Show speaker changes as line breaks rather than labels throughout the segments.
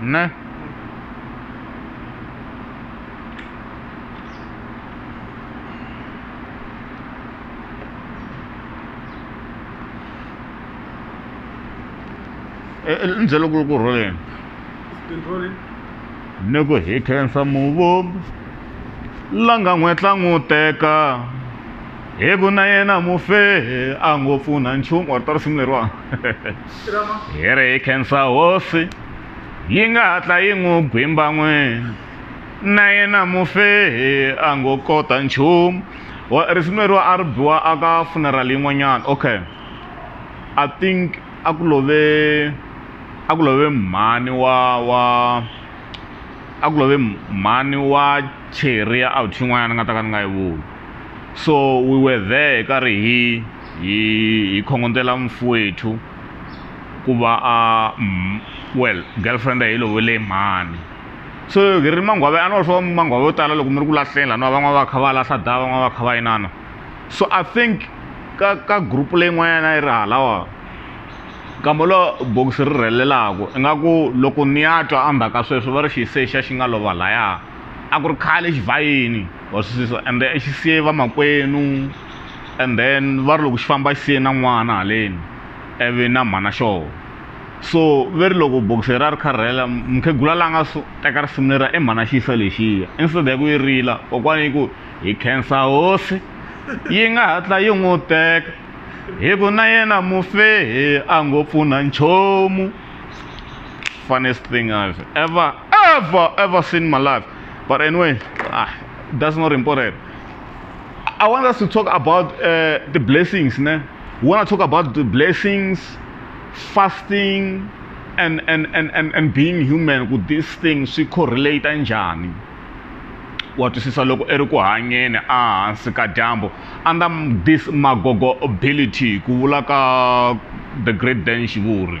Ne?
endzela ku ku rholeni
ni ku
hi khensa muvumbi la nga n'wetla n'wu teka hi ku na yena mufe a ngo pfuna nchumu or ta risimu leriwani
hi ri hi
khensa hosi yi nga hatla yi n'wi gwimba n'wini na yena mufi a ngo kota nchumu risimu leriwa a ri biwa a ka funeral yin'wanyana okay i think a ku love a ku love mhani wa wa a ku love mhani wa cheriya out yin'wanyana ni nga ta ka ni nga yi vuli so we were there hi karhi hi hi hi khongotela mufi wethu ku va a well girlfriend yi lovele mhani so hi ri mangwave a ni wa swo mangwave yo tala loko mi ri ku lahleni lani wa van'wana va kha va lahla da van'wana va kha va inana so i think ka ka group leyin'wanyana yi ri halawa kambe lo bokisi ri rhelelaka ingaku loko ni ya twa endzhaku ka sweswo va ri xi se xa xi nga lova laya a ku ri khale xi vhayini. wa swi twisisa ende xi siye vamakwenu and then va ri loko xi famba xi siye na n'wana haleni ivi na mhana xoho so ve ri loko bokisi ra ri kharhela mukhegula la nga so teka risimu leriya i mhana xi yisa lexiya instead ya ku yi rila kokwana yi ku hi khensa hosi yi nga hatla yi n'wi teka hi ku na yena mufehe a ngo pfuna nchumu funniest thing I've ever, ever, ever seen in my life. But anyway, ah, that's not important. I want us to talk about uh, the blessings. Ne? We want to talk about the blessings, fasting, and, and, and, and, and being human with these things swi correlate njhani wa twisisa loko i ri ku hanyeni ehansi ka dyambu under this magogo ability ku vula ka the great dan xivuri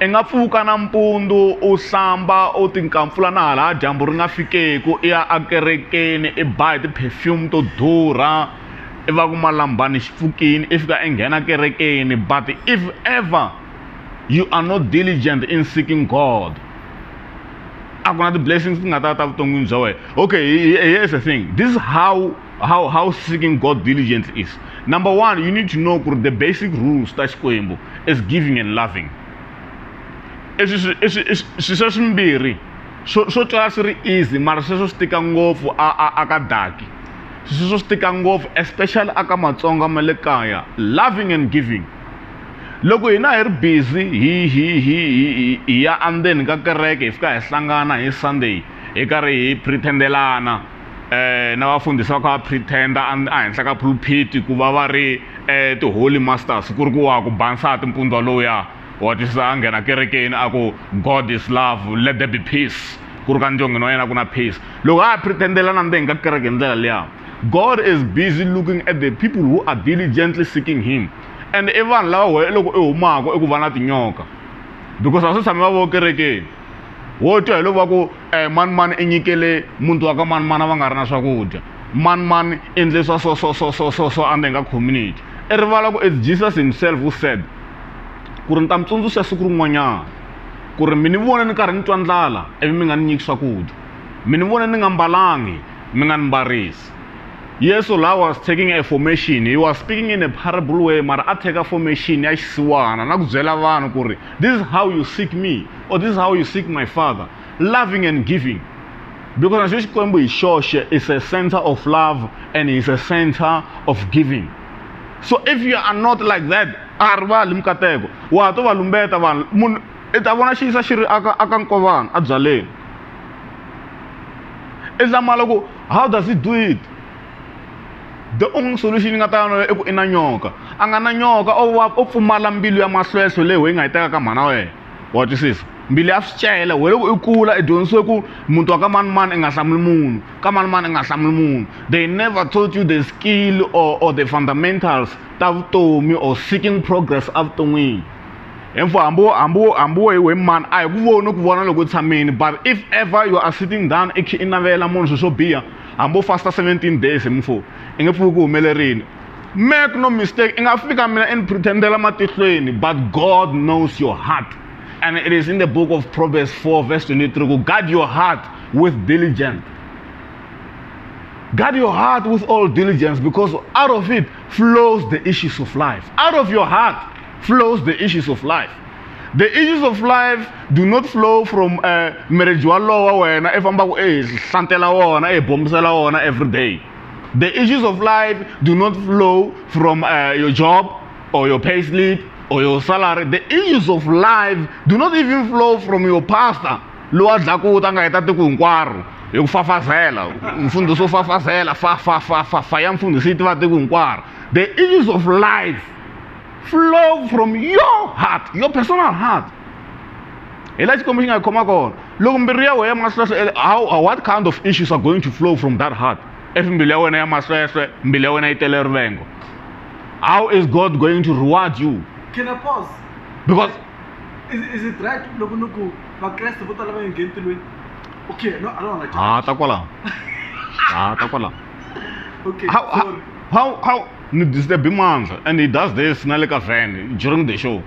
i nga pfuka nampundzu u hlamba u tinkampfula na hala dyambu ri nga fikeku i ya ekerekeni i ba hi ti-perfume to durha i va ku malambani xi pfukini i fika i nghena kerekeni but if ever you are not diligent in seeking god a ku na ti-blessings ti nga ta ta vuton'wini bya wena okay here's the thing this is how how how seeking God diligence is. Number one, you need to know the basic rules ta Xikwembu is giving and loving. swisa swimbirhi swo twala swi ri easy mara sweswo swi tika ngopfu aka daki sweswo swi tika ngopfu especially aka matsonga ma le kaya loving and giving loko hina hi ri busy hi hi hi hi ya andzeni ka kereke hi fika hi hlangana hi sunday hi karhi hi pretendelana eh na vafundhisi va kha va pretender ehenhla ka pulpit ku va va ri eh ti-holy masters ku ri ku wa ku ba nsati mpundzu waloya wa twisisa a nghena kerekeni a ku god is love let there be peace ku ri ka ndyongeni wa yena ku na peace loko a pretendela na mbeni ka kereke hi ndlela liya god is busy looking at the people who are diligently seeking him and i vanhu lava wehe loko i humaka i ku va na tinyoka because a swi tshami va vo kerekeni wo twa hi loko va ku eh, mani mani i nyikele muti wa ka mani mani va nga ri na swakudya mani mani i endle swa so so so so so so under nga community i rivala ku as jesus himself u said ku ri ni ta mi tsundzuxa siku rin'wanyana ku ri mi ni vona ni karhi ni twa ndlala ivi mi nga ni nyiki swakudya mi ni vona ni nga mbalangi mi nga ni mbarisi yesu la was taking a formation he was speaking in a parable way mara a teka formation ya xisiwana na ku byela vanhu ku ri This is how you seek me, or this is how you seek my father. Loving and giving. Because Nansha Chikwembu is church is a center of love and is a center of giving. So if you are not like that, arivali mikateko wa to va lumbeta vanhu munhu i ta vona xiyisa xi ri aka aka nkovana a byaleni i zamala ku how does it do it the only solution yi nga ta yona i ku i na nyoka a nga na nyoka o va o pfumala mbilu ya mahlwehlwe leyi ho yi nga yi teka ka mhana wena wa twisisa mbilu ya swicele we loko i kula i dyondzisiwe ku muti wa ka manimani i nga hlamuli munhu ka manimani i nga hlamuli munhu they never taught you the skill or, or the fundamentals ta vutomi or seeking progress evuton'wini info hambi wo hambi wo hambi wo hi we mani a hi ku voni ku vona loko u tshamini but if ever you are sitting down i khe i navela munhu swilo swo biha hambi u fasta 17 days hi mfo i nge pfuki ku humelerini make no mistake i nga fika mina i ni pretendela matihlweni but god knows your heart and it is in the book of proverbs 4 verse 23 ku guard your heart with diligence Guard your heart with all diligence because out of it flows the issues of life. Out of your heart flows the issues of life the issues of life do not flow from uh, marriage walowo wa wena i fambaka i hlantela wona i bombisela wona every day the issues of life do not flow from uh, your job or your pay slip or your salary the issues of life do not even flow from your pastor lowa dlakuta nga heta tiko hinkwaro hi ku fafazela mfundhisi wo fafazela fa fa fa fa fa ya mfundhisi yi tiva tiko hinkwaro the issues of life flow from your heart your personal heart hi la xikwembu xi nga hi khoma kona loko mbilu ya wena ya masweswe how what kind of issues are going to flow from that heart if mbilu ya wena ya masweswe mbilu ya wena yi tele rivengo how is god going to reward you can i pause
because
is, is
it right loko ni ku vakreste vo tala va nge ngheni tilweni okay no i don't want to ah ta kwalaho ah ta kwalaho okay how, how,
how, how ni disturb mandla and he does this na le ka van during the show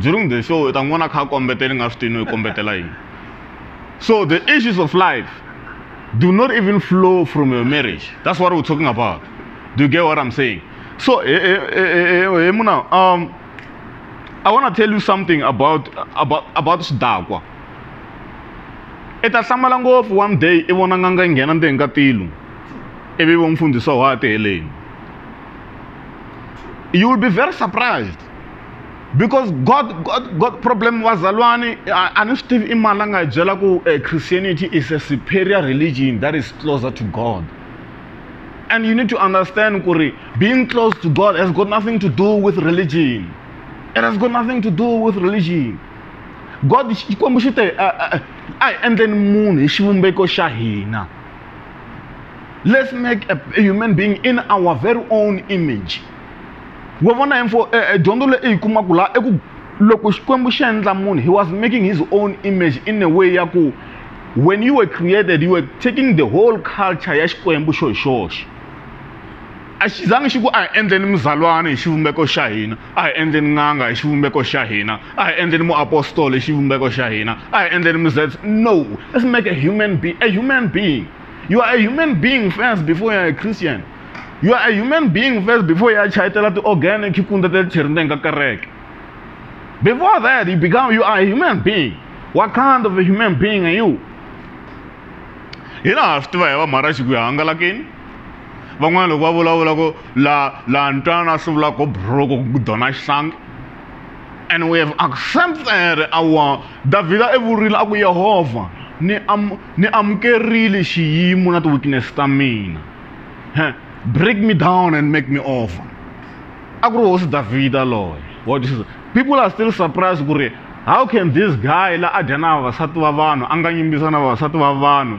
during the show u ta n'wi vona kha a kombetela ni nga swi tivi no yi kombetela yini so the issues of life do not even flow from your marriage that's what we're talking about do you get what i'm saying so hey, eh, eh, hey, eh, hey, muna um i want to tell you something about about about xidakwa i ta hlamala ngopfu one day i vona n'anga yi nghena ndzeni ka tilu ivi vo mfundhisiwa wa ha ti heleni you will be very surprised because god god god problem wazalwane a ni swi tivi i mani la nga hi byela ku uh, christianity is a superior religion that is closer to god and you need to understand ku ri being close to god has got nothing to do with religion it has got nothing to do with religion god xikwembu xi te a hi endleni munhu hi xivumbeko xa hina Let's make a, a human being in our very own image. wa vona info eh, eh, dyondzo leyi yi kumaka laha i ku loko xikwembu xi endla munhu he was making his own image in a way ya ku when you were created you were taking the whole culture ya xikwembu xo hi xoxe a xi zangi xi ku a hi endleni muzalwana hi xivumbeko xa hina a hi endleni n'anga hi xivumbeko xa hina a hi endleni muapostolo hi xivumbeko xa hina a hi endleni muzets no let's make a human being a human being you are a human being first before you are a christian you are a human being first before you are chayitela ti-organ khikunda ta tlheri ndzeni ka kereke before that you become you are a human being what kind of a human being are you hina ha swi tiva hi va mharaxi ku ya hangalakeni van'wana loko va vulavula ku la la ntwana swi vula ku buruku ku dona xihlangi and we have accepted our davhida i vurile a ku yehovha ni am ni amukerile xiyimo na ti-weakness ta mina break me down and make me over a ku ri hosi davhida loye wa twisisa people are still surprised ku ri how can this guy la a dya na vavasati va vanhu a nga yimbisa na vavasati va vanhu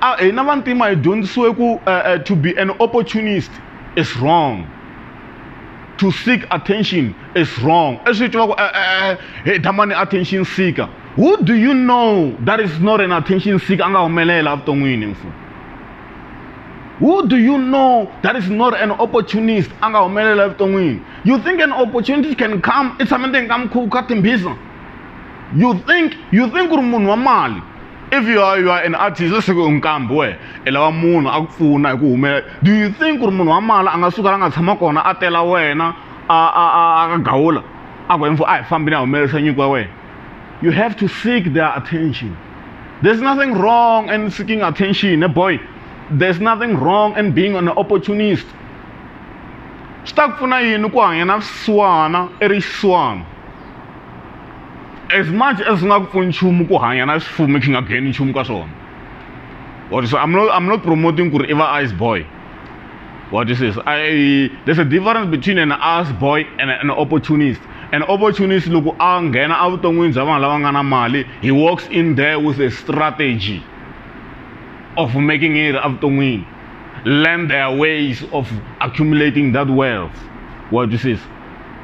a hina vantima hi dyondzisiwe ku uh, uh, to be an opportunist is wrong to seek attention is wrong leswi hi tivaka eh, eh, eh, hi damani attention seeker who do you know that is not an attention seeker a nga humelela evuton'wini mfu who do you know that is not an opportunist a nga humelela evuton'wini you think an opportunity can come i tshame ndzeni ka mukhuva ka timbhiza you think you think ku ri munhu wa mali if you are, you are an artist let's say u nkambi wehe i lava munhu a ku pfuna hi ku humelela do you think ku ri munhu wa mala a nga suka la nga tshama kona a tela wena a a a a gawula a ku info a hi fambi ni ya humelerisa nyiko ya wena you have to seek their attention there's nothing wrong in seeking attention ne boy there's nothing wrong in being an opportunist swi ta ku pfuna yini ku hanya na swisiwana i ri xiswana as much as swi nga ku pfuni nchumu ku hanya na swifume swi nga gain nchumu ka swona what so i'm not i'm not promoting ku ri i va ice boy what is this i there's a difference between an ice boy and an opportunist an opportunist loko a nghena evuton'wini bya vanhu lava nga na mali he walks in there with a strategy of making it evuton'wini learn their ways of accumulating that wealth what is this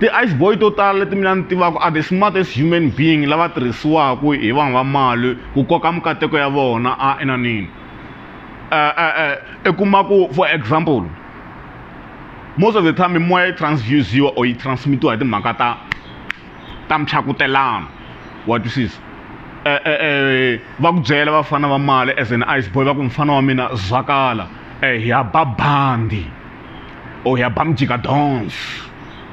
ti-ice boy to tala leti mina ni tivaka are the smartest human being lava tirhisiwaka hi vanhu va mali ku koka mikateko ya vona a enanini eh, eh, eh, i kuma ku for example most of the time mimoya yi transfusiwa or yi transmitiwa hi timhaka ta ta michakutelano wa twisisa va ku byela vafana va mali as an ice boy va ku mufana wa mina zwakala hi ya ba bandi or hi ya ba mijika dance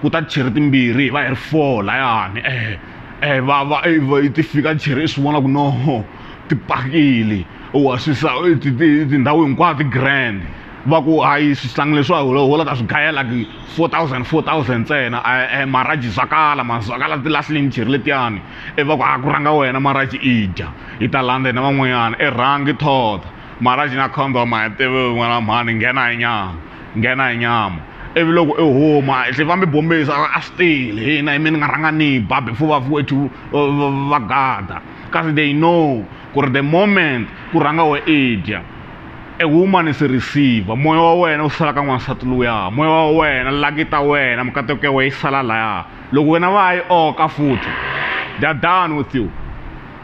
ku ta cheri timbirhi hi va hi ri four layani eh eh va va ti fika cheri i swi vona ku no ti pakile wa swi sa tindhawu hinkwato ti grand va ku hayi swihlangi leswiwa holo holo ta swi gayela ku four thousand four thousand ntsena e maraji zwakala ma zwakala ti lahlile micheri letiyani e va ku a ku rhanga wena maraji i dya hi ta landza hina van'wanyana e rhangi thotha mara xi nga khomba u ma tivi n'wana wa mhani nghena hi nyama nghena hi nyama ivi loko i huma i tlhe va mi bombisa a swi tele hina hi mi ni nga rhanga ni ba before va wethu va gada kasi they know ku ri the moment ku rhanga we i dya e huma ni se receiver moya wa wena wu sala ka n'wansati luya moya wa wena laki ta wena mikateko ya wena yi sala laya loko wena va ya yi oka futhi they are done with you.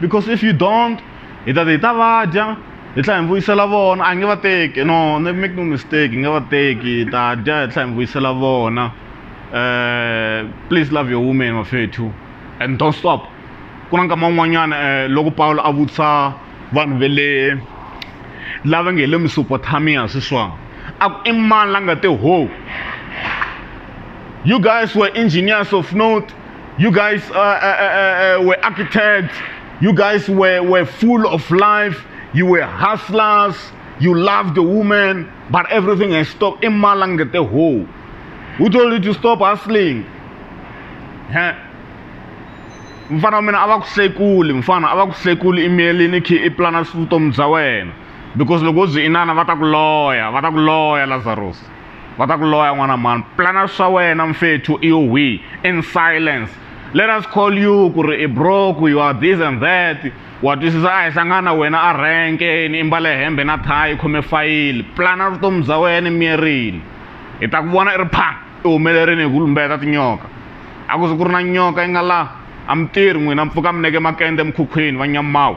because if you don't hi ta hi ta va dya hi tlhela hi vuyisela vona a nge va teki no ne make no mistake hi nge va teki hi ta dya hi tlhela hi vuyisela vona um please love your woman mafethu and don't stop ku na nkama wun'wanyana um eh, loko pawulo a vutisa vanhu ve le lava nge hi le mesopotamiya sweswona a ku i mani la nga te ho you guys were engineers of note You guys uh, uh, uh, uh, were architects. You guys were, were full of life. You were hustlers. You loved the woman. But everything has stopped. In Malangate ho. Who told you to stop hustling? Huh? mfana wa mina a va ku sekuli mfana a va ku sekuli imeli ni khi i plana vutomi bya wena because loko u byi inana va ta ku loya va ta ku loya lazarus va ta ku loya n'wana mani plana swa wena mfethu i yo wihi in silence let us call you ku ri i broke you are this and that wa twisisa a hi hlangana wena a renkeni i mbale hembe na thayi khome fayili plana vutomi bya wena miyerini hi ta ku vona i ri phang i humelerini hi ku lumbeta tinyoka a ku ze ku ri na nyoka yi nga laha a mi tirhi n'wina mpfuka mi neke makende emikhukhwini va nyamawu